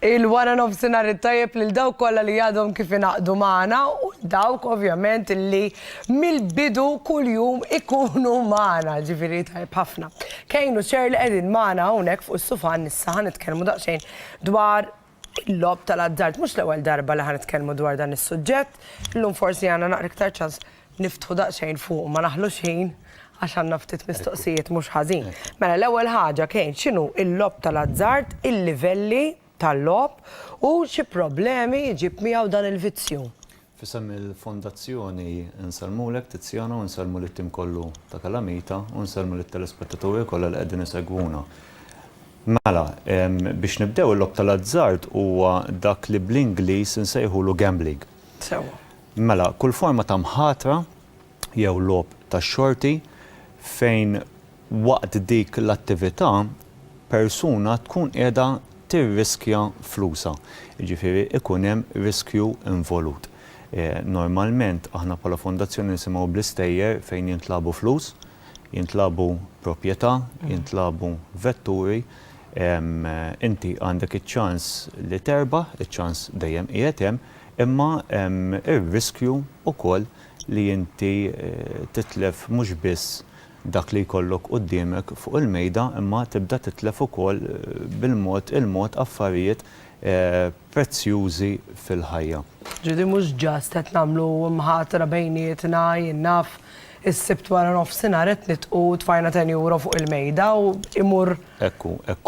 Il-wara nofsinhar it-tajjeb lil dawk kollha li għadhom kif inaqdu magħna u dawk ovvjament li mill-bidu kuljum ikunu magħna, ġifieri tajjeb ħafna. Kejn u ċer li qegħdin magħna hawnhekk fuq is-sufan issa ħa nitkellmu daqsxejn dwar Il-logħob tal-azzard, mhux l-ewwel darba li ħa nitkellmu dwar dan is-suġġett. Illum forsi għandna naqra iktar ċans niftħu daqsxejn fuqu, ma naħlux ħin għax għandna ftit mistoqsijiet mhux ħażin. Mela l-ewwel ħaġa Kane, x'inhu l-logħob tal-azzard, il-livelli tal-logħob u xi problemi jġib miegħu dan il-vizzju? F'isem il-Fondazzjoni nsellmulek Tiziano, nsellmu lit-tim kollu ta' Kalamita u nsellmu lit-telespettatori kollha li qegħdin isegwuna. Mela, biex nibdew il-logħob tal-azzard huwa dak li bl-Ingliż insejħulu gambling. Sewwa. Mela, kull forma ta' mħatra jew logħob tax-xorti fejn Waqt dik l-attività, persuna tkun qiegħda tirriskja flusha, jiġifieri jkun hemm riskju involut. Normalment aħna bħala fondazzjoni nisimgħu bl-istejjer fejn jintlagħbu flus, jintlagħbu proprjetà, jintlagħbu vetturi. Inti għandek iċ-ċans li terbaħ, iċ-ċans dejjem qiegħed hemm, imma hemm ir-riskju wkoll li inti titlef mhux biss dak li jkollok quddiemek fuq il-mejda imma tibda titlef ukoll bil-mod il-mod affarijiet prezzjużi fil-ħajja. Ġieli mhux just qed nagħmlu mħatra bejnietna, jien naf, is-Sibt wara nofsinhar qed nitqu tfajna ten euro fuq il-mejda u imur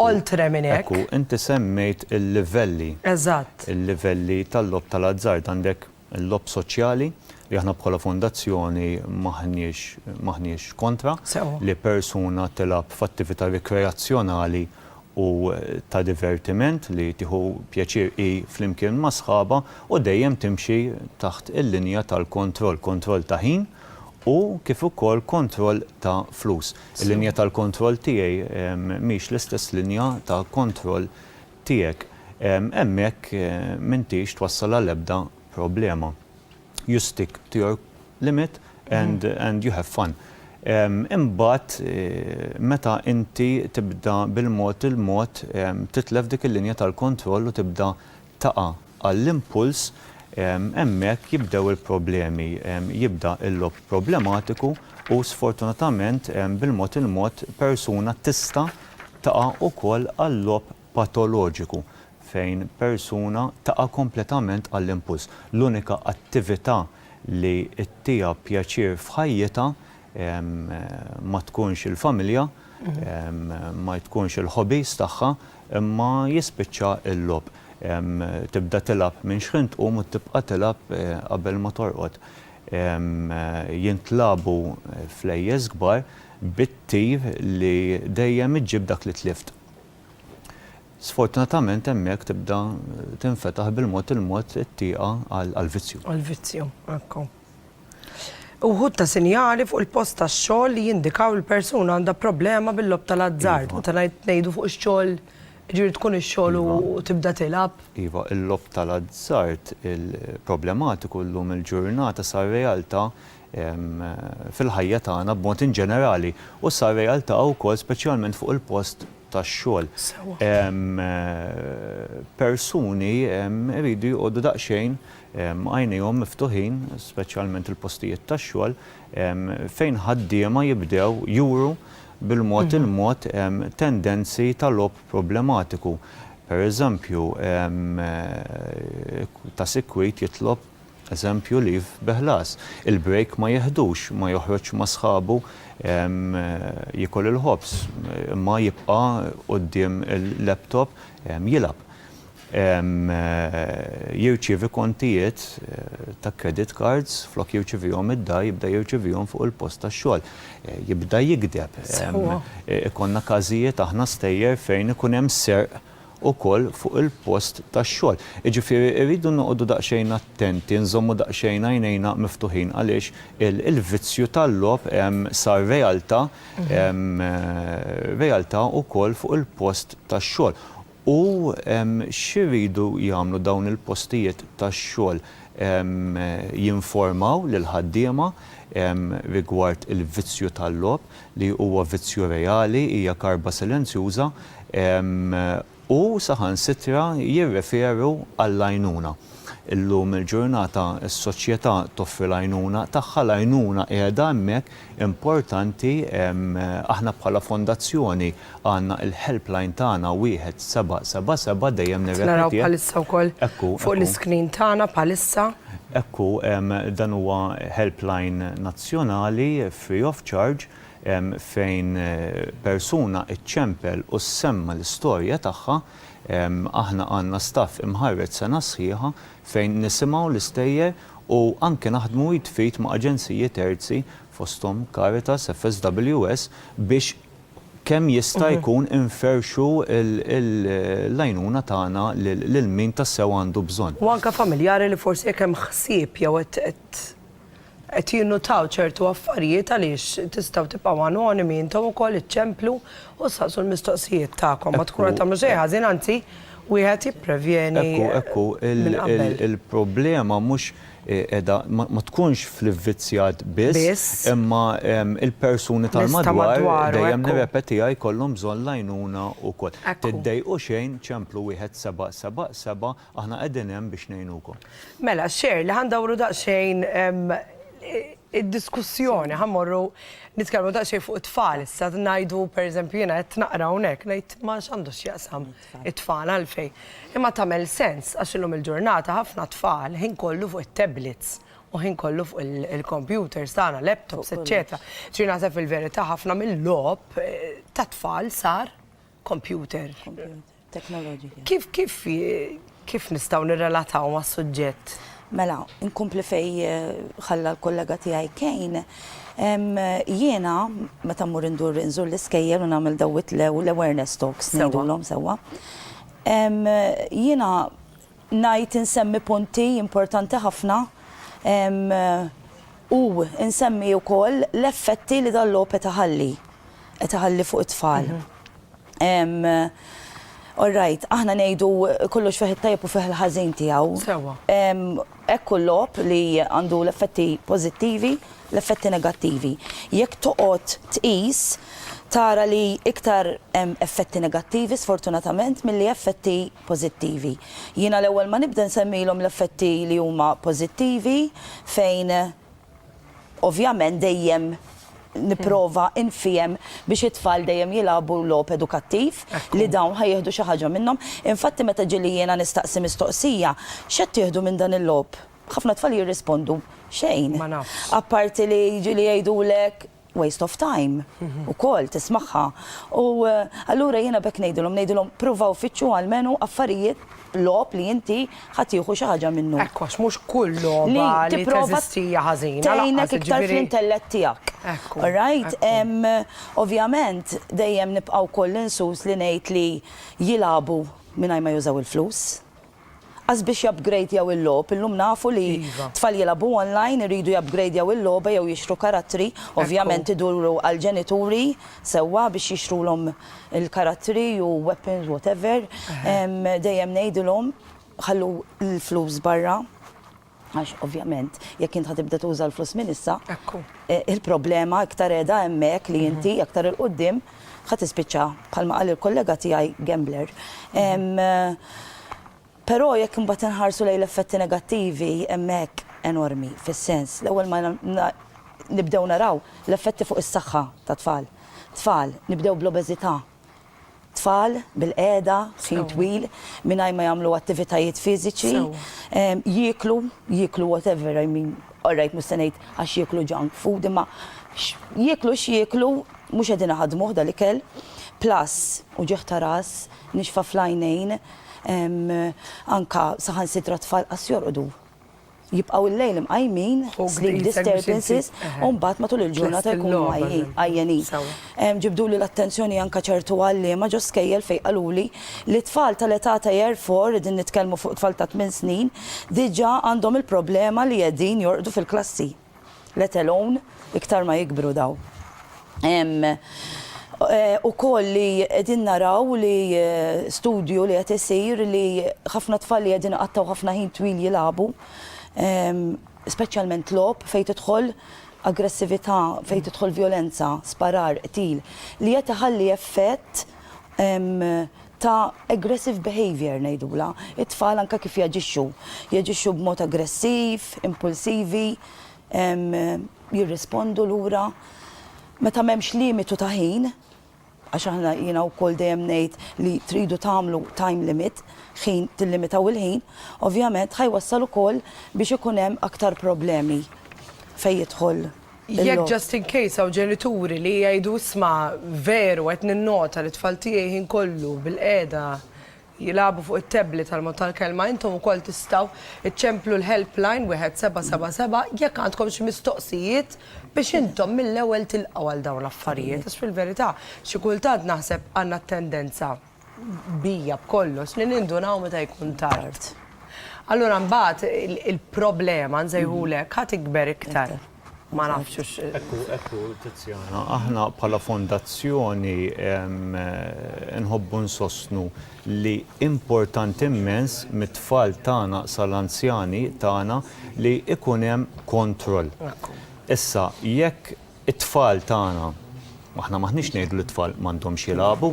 oltre minn hekk. Ekku, inti semmejt il-livelli. Eżatt. Il-livelli tal-logħob tal-azzard. Għandek Il-logħob soċjali, li aħna bħala fondazzjoni m'aħniex m'aħniex kontra, li persuna tilgħab f'attività rikreazzjonali u ta' divertiment li tieħu pjaċir hi flimkien ma' sħabha u dejjem timxi taħt il-linja tal-kontroll, kontroll ta' ħin u kif ukoll kontroll ta' flus. Il-linja tal-kontroll tiegħi mhix l-istess linja ta' kontroll tiegħek hemmhekk m'intix twassal għal ebda problema. You stick to your limit and and you have fun. Imbagħad meta inti tibda bil-mod il-mod titlef dik il-linja tal-kontroll u tibda taqa'. għall-impuls, hemmhekk jibdew il-problemi, jibda l-logħob problematiku u sfortunatament bil-mod il-mod persuna tista' taqa' ukoll għal-logħob patoloġiku fejn persuna taqa' kompletament għall-impuls. L-unika attività li ttiha pjaċir f'ħajjitha ma tkunx il-familja, ma tkunx il-hobbies tagħha, imma jispiċċa l-logħob. Tibda tilgħab minn xħin tqum u tibqa' tilgħab qabel ma torqod. Jintlagħbu flejjes kbar bit-tir li dejjem iġġib dak li tlift. Sfortunatament hemmhekk tibda tinfetaħ bil-mod il-mod it-tieqa għall-vizzju. Għall-vizzju, ekku. Uħud ta' sinjali fuq il-post tax-xogħol li jindikaw li l-persuna għandha problema bil-logħob tal-azzard. Meta ngħidu fuq ix-xogħol, jiġifieri tkun ix-xogħol u tibda tilgħab. Iva, il-logħob tal-azzard problematiku llum il-ġurnata sar realtà fil-ħajja tagħna b'mod inġenerali u sar realtà wkoll speċjalment fuq il-post tax-xogħol. Persuni jridu jqogħdu daqsxejn għajnejhom miftuħin, speċjalment il-postijiet tax-xogħol, fejn ħaddiema jibdew juru bil-mod il-mod tendenzi ta' logħob problematiku. Pereżempju, ta' sikwit jitlob Eżempju, leave bi ħlas. Il-break ma jiħdux, ma joħroġx ma' sħabu jiekol il-ħobż, imma jibqa' quddiem il-laptop jilgħab. Jirċievi kontijiet ta' credit cards, flok jirċivihom id-dar jibda jirċivihom fuq il-post tax-xogħol. Jibda jigdeb. Ikollna każijiet aħna stejjer fejn ikun hemm serq ukoll fuq il-post tax-xogħol. Jiġifieri rridu noqogħdu daqsxejn attenti, nżommu daqsxejn għajnejna miftuħin għaliex il-vizzju tal-logħob sar realtà, realtà ukoll fuq il-post tax-xogħol. U x'iridu jagħmlu dawn il-postijiet tax-xogħol? Jinformaw lill-ħaddiema rigward il-vizzju tal-logħob, li huwa vizzju reali, hija karba silenzjuża, u saħansitra jirreferu għall-għajnuna. Illum il-ġurnata s-soċjetà toffri l-għajnuna tagħha, l-għajnuna qiegħda hemmhekk, importanti, aħna bħala fondazzjoni għandna il-helpline tagħna wieħed seba' seba' seba' dejjem nirrepetih. Qed naraw bħalissa wkoll fuq l-iscreen tagħna bħalissa. Ekku, dan huwa helpline nazzjonali. free of charge, fejn persuna ċċempel u semma' l-istorja tagħha, aħna għandna staff imħarreġ sena sħiħa fejn nisimgħu l-istejjer u anke naħdmu id f'id ma' aġenziji terzi fosthom Caritas, FSWS biex kemm jista' jkun inferrxu l-għajnuna tagħna lil min tassew għandu bżonn. U anke familjari li forsi jekk hemm ħsieb jew qed qed jinnutaw ċertu affarijiet għaliex tistgħu tibqgħu anonimi intom ukoll iċċemplu u ssaqsu l-mistoqsijiet tagħkom ma tkunu qed tagħmlu xejn ħażin anzi wieħed jipprevjeni Ekku, ekku, il-problema mhux qiegħda ma tkunx fl-ivvizzjat biss, imma l-persuni tal-madwar dejjem nirrepetiha jkollhom bżonn l-għajnuna wkoll. Tiddejqu xejn, ċemplu wieħed seba' seba' seba' Aħna qegħdin hemm biex ngħinukom. Mela, xejr, li ħa ndawru daqsxejn id-diskussjoni, ħa mmorru nitkellmu daqsxejn fuq it-tfal issa, ngħidu pereżempju jiena qed naqra hawnhekk ngħid ma x'għandu x'jaqsam it-tfal għalfejn. Imma tagħmel sens għax illum il-ġurnata ħafna tfal ħin kollu fuq it-tablets u ħin kollu fuq il-computers tagħna, laptops, eċċetera. Ġifieri naħseb fil-verità ħafna mill-logħob tat-tfal sar kompjuter. Teknoloġija. Kif kif kif nistgħu nirrelataw mas-suġġett? Mela, inkompli fej ħalla l-kollega tiegħi Kejn, jiena meta mmur indur inżur l-iskejjel u nagħmel dawit l-awareness talks ngħidulhom sewwa. Jiena ngħid insemmi punti importanti ħafna u nsemmi wkoll l-effetti li dan l-għob qed iħalli, qed iħalli fuq it-tfal. All right, aħna ngħidu kollox fih it-tajjeb u fih il-ħażin tiegħu. Sewwa. Hekk hu l-logħob li għandu l-effetti pożittivi, l-effetti negattivi. Jekk toqgħod tqis tara li iktar hemm effetti negattivi sfortunatament milli effetti pożittivi. Jiena l-ewwel ma nibda nsemmilhom l-effetti li huma pożittivi fejn ovvjament dejjem nipprova nfiehem biex it-tfal dejjem jilagħbu logħob edukattiv li dawn ħa jieħdu xi ħaġa minnhom. Infatti meta ġieli jiena nistaqsi mistoqsija, x'qed tieħdu minn dan il-logħob? Ħafna tfal jirrispondu, xejn. Apparti li ġieli jgħidulek waste of time ukoll tismagħha. U allura jiena b'hekk ngħidilhom, ngħidilhom pruvaw fittxu almenu affarijiet logħob li inti ħadd tieħu xi ħaġa minnu. Ekk għax mhux kull logħba li teżisti hija ħażina. Tgħinek iktar fl-intellett tiegħek. All right? Ovvjament dejjem nibqa' wkoll insus li ngħid li jilagħbu mingħajr ma jużaw il-flus. As biex jupgradjaw il-logħob, illum nafu li tfal jilagħbu online iridu jupgradjaw il-logħba jew jixtru karattri, ovvjament iduru għall-ġenituri sewwa biex jixtrulhom il-karattri u weapons whatever, dejjem ngħidilhom ħallu l-flus barra. Għax ovvjament jekk int ħa tibda tuża l-flus minn issa, il-problema iktar qiegħda hemmhekk li inti aktar 'il quddiem ħa tispiċċa bħalma qal il-kollega tiegħi gambler. Però jekk imbagħad inħarsu lejn l-effetti negattivi hemmhekk enormi fis-sens l-ewwel ma nibdew naraw l-effetti fuq is-saħħa tat-tfal. Tfal nibdew bl-obeżità. Tfal bilqiegħda, ħin twil, mingħajr ma jagħmlu attivitajiet fiżiċi, jieklu, jieklu whatever, I mean, all right mhux se ngħid għax jieklu junk food, imma jieklu x'jieklu mhux qegħdin iħaddmuh dal-ikel. Plus, uġigħ ta' ras, nixfa fl-għajnejn, anke saħansitra tfal qas jorqdu. jibqgħu l-lejl imqajmin, sleep disturbances, u mbagħad matul il-ġurnata jkunu għajjenin. Ġibduli l-attenzjoni anke ċertu għalliema ġo skejjel fejn qaluli li t-tfal tal-età ta' Year Four, qegħdin nitkellmu fuq tfal ta' tmien snin, diġà għandhom il-problema li qegħdin jorqdu fil-klassi. let alone iktar ma jikbru dawn. Hemm ukoll li qegħdin naraw li studju li qed isir li ħafna tfal li qegħdin iqattgħu ħafna ħin twil jilagħbu, speċjalment logħob fejn tidħol aggressività, fejn tidħol vjolenza, sparar, qtil, li qed iħalli effett ta' aggressive behaviour ngħidulha, it-tfal anke kif jaġixxu, jaġixxu b'mod aggressiv, impulsivi, jirrispondu lura. Meta m'hemmx limitu ta' ħin, għax aħna jiena wkoll dejjem ngħid li tridu tagħmlu time limit, ħin tillimitaw il-ħin, ovvjament ħa jwassal ukoll biex ikun hemm aktar problemi fejn jidħol Jekk just in case hawn ġenituri li jgħidu isma' veru qed ninnota li t-tfal tiegħi ħin kollu bilqiegħda jilagħbu fuq it-tablet għal mod tal-kelma intom ukoll tistgħu iċċemplu l-helpline 1777 jekk għandkom xi mistoqsijiet biex intom mill-ewwel tilqgħu għal dawn l-affarijiet għax fil-verità xi kultant naħseb għandna t-tendenza bija b'kollox li nindunaw meta jkun tard. Allura mbagħad il-problema nsejħulu hekk ħa tikber iktar. Ma nafx hux. Ekku, ekku Tiziana, aħna bħala fondazzjoni nħobbu nsostnu li importanti immens mit-tfal tagħna sal-anzjani tagħna li jkun hemm kontroll. Issa jekk It-tfal tagħna, aħna m'aħniex ngħidu li t-tfal m'għandhomx jilagħbu.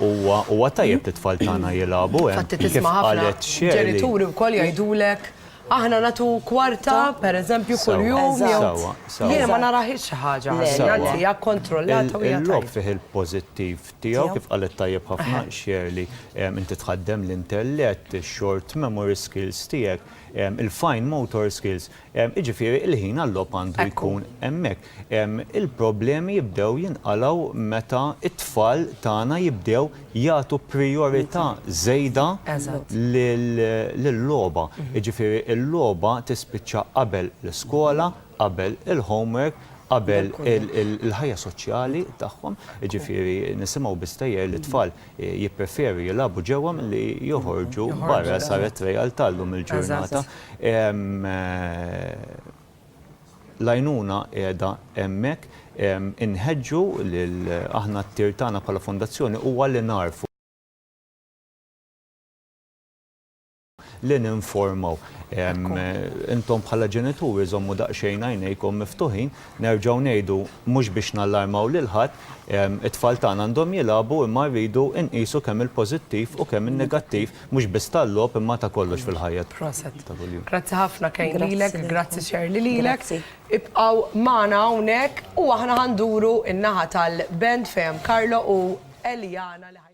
Huwa huwa tajjeb li t-tfal tagħna jilagħbu. Infatti tisma' ħafna ġenituri wkoll jgħidulek aħna nagħtu kwarta, pereżempju, kuljum jew jiena ma narahiex xi ħaġa ħażina, anzi hija kkontrollata u hija tajba. Il-logħob fih il-pożittiv tiegħu kif qalet tajjeb ħafna Shirley, inti tħaddem l-intellett, ix-short memory skills tiegħek, il-fine motor skills, Jiġifieri l-ħin għal-logħob għandu jkun hemmhekk. Il-problemi jibdew jinqalgħu meta t-tfal tagħna jibdew jagħtu prijorità żejda lil-logħba. Jiġifieri l-logħba tispiċċa qabel l-iskola, qabel il-homework, qabel il-ħajja soċjali tagħhom. Jiġifieri nisimgħu biss tgħajjir li t-tfal jippreferi jilagħbu ġewwa milli joħorġu barra saret realtà llum il-ġurnata. L-għajnuna qiegħda hemmhekk. Inħeġġu lil aħna t-tir tagħna bħala fondazzjoni huwa li nagħrfu. li ninformaw. Intom bħala ġenituri żommu daqsxejn għajnejkom miftuħin, nerġgħu ngħidu mhux biex nallarmaw lil ħadd, it-tfal tagħna għandhom jilagħbu imma rridu nqisu kemm il-pożittiv u kemm in-negattiv mhux biss tal-logħob imma ta' kollox fil-ħajja ta' kuljum. Grazzi ħafna Kane lilek, grazzi Shirley lilek. Ibqgħu magħna hawnhekk u aħna ħa nduru n-naħa tal-band fejn hemm Carlo u Eliana li ħa